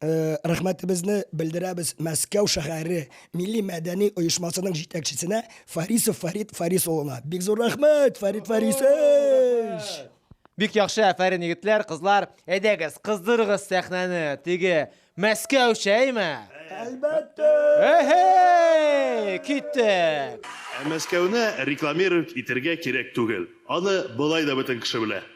рәхмәтебезне белдерәбез Мәскәү шәһәре милли мәдәни оешмасының җитәкчесенә Фарисов Фарид Фарис улына. Бик зур рәхмәт, Фарид Фарисович! Бик яхшы, әфәрин, егетләр, кызлар. Әйдәгез, кыздырыгыз сәхнәне, теге Мәскәүчә, әйме? Әлбәттә! Эһей! Киттек! Ә Мәскәүне рекламировать итергә кирәк түгел. Аны болай да бөтен кеше белә.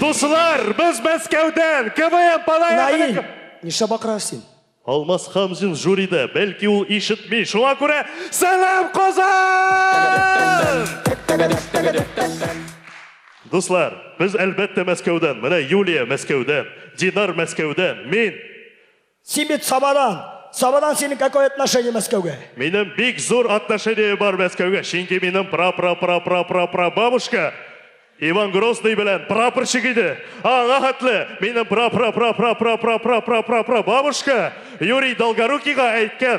Дуслар, без Мәскәүдән КВМ Палаев. Нишләп бакырасыз син? Алмаз Хамзин жюрида, бәлки ул ишетми. Шуңа күрә сәлам Казан! Дуслар, без әлбәттә Мәскәүдән, менә Юлия Мәскәүдән, Динар Мәскәүдән, мин. Син бит Самадан, Самадан синең какое отношение Мәскәүгә? Минем бик зур отношение бар Мәскәүгә, чөнки минем пра-пра-пра-пра-пра-пра-бабушка Иван Грозный белән прапорщик иде, аңа хәтле минем пра-пра-пра-пра-пра-пра-пра-пра-пра-пра-бабушка Юрий Долгорукийга әйткән,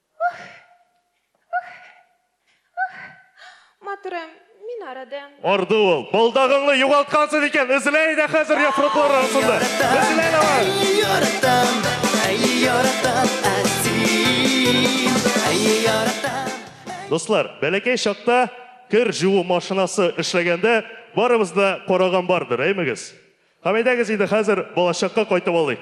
Матурым, мин арыдым. Арды ул. Балдагыңны югалткансыз икән, эзлә иде хәзер яфраклар арасында. Эзлә давай. Яратам, әй яратам, әсин, әй яратам. Дуслар, бәләкәй чакта кер җуу машинасы эшләгәндә барыбыз да караган бардыр, әймегез? Һәм әйдәгез инде хәзер балачакка кайтып алыйк.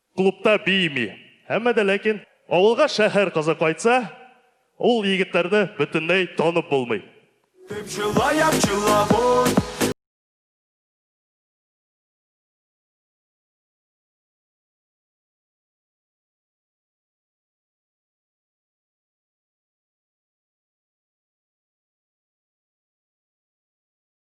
Клубта биими. Әмма дә ләкин авылга шәһәр кызы кайтса, ул егетләрне бөтенләй танып булмый. Дип җылаям җылап ой.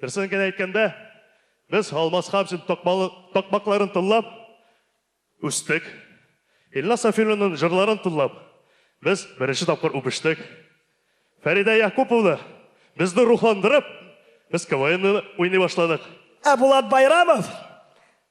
Дөресен генә әйткәндә, без Алмаз Хәмзин такмакларын тыңлап үстек. Илназ Сафиуллинның җырларын тыңлап, без беренче тапкыр үбештек. Фәридә Якуповна безне рухландырып, без КВНны уйный башладык. Ә Булат Байрамов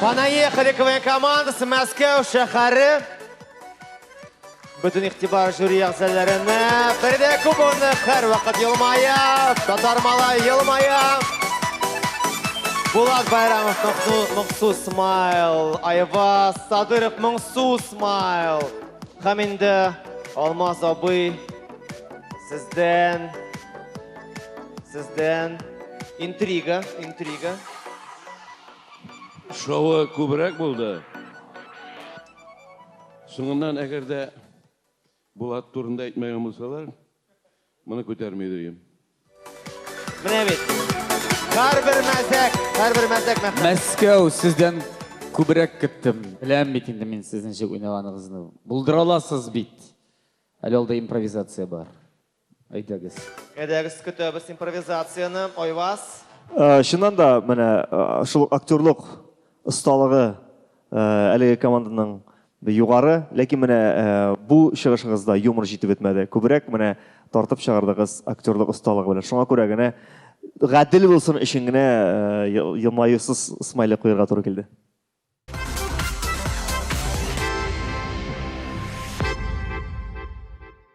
Понаехали КВН командасы Мәскәү шәһәре. Бүтін иқтибар жюри әгзәләренә. Фәридә Кубовна һәр вакыт елмая, татар малай елмая. Булат Байрамов моңсу смайл, Айваз Садыров моңсу смайл. Һәм инде Алмаз абый сездән сездән интрига, интрига. Шоуы күбрәк булды. Соңыннан әгәр дә Булат турында әйтмәгән булсалар, моны күтәрми идем. Менә бит. Һәрбер мәзәк, һәрбер мәзәк мәхәббәт. Мәскәү сездән күбрәк көттем. Беләм бит инде мин сезнең ничек уйнаганыгызны. Булдыра аласыз бит. Әле алда импровизация бар. Әйдәгез. Әйдәгез, көтәбез импровизацияне. Айваз. Чыннан да, менә шул ук актерлык осталыгы әлеге команданың югары, ләкин менә бу чыгышыгызда юмор җитеп бетмәде. Күбрәк менә тартып чыгардыгыз актерлык осталыгы белән. Шуңа күрә генә, гадел булсын өчен генә елмаюсыз смайлик куярга туры килде.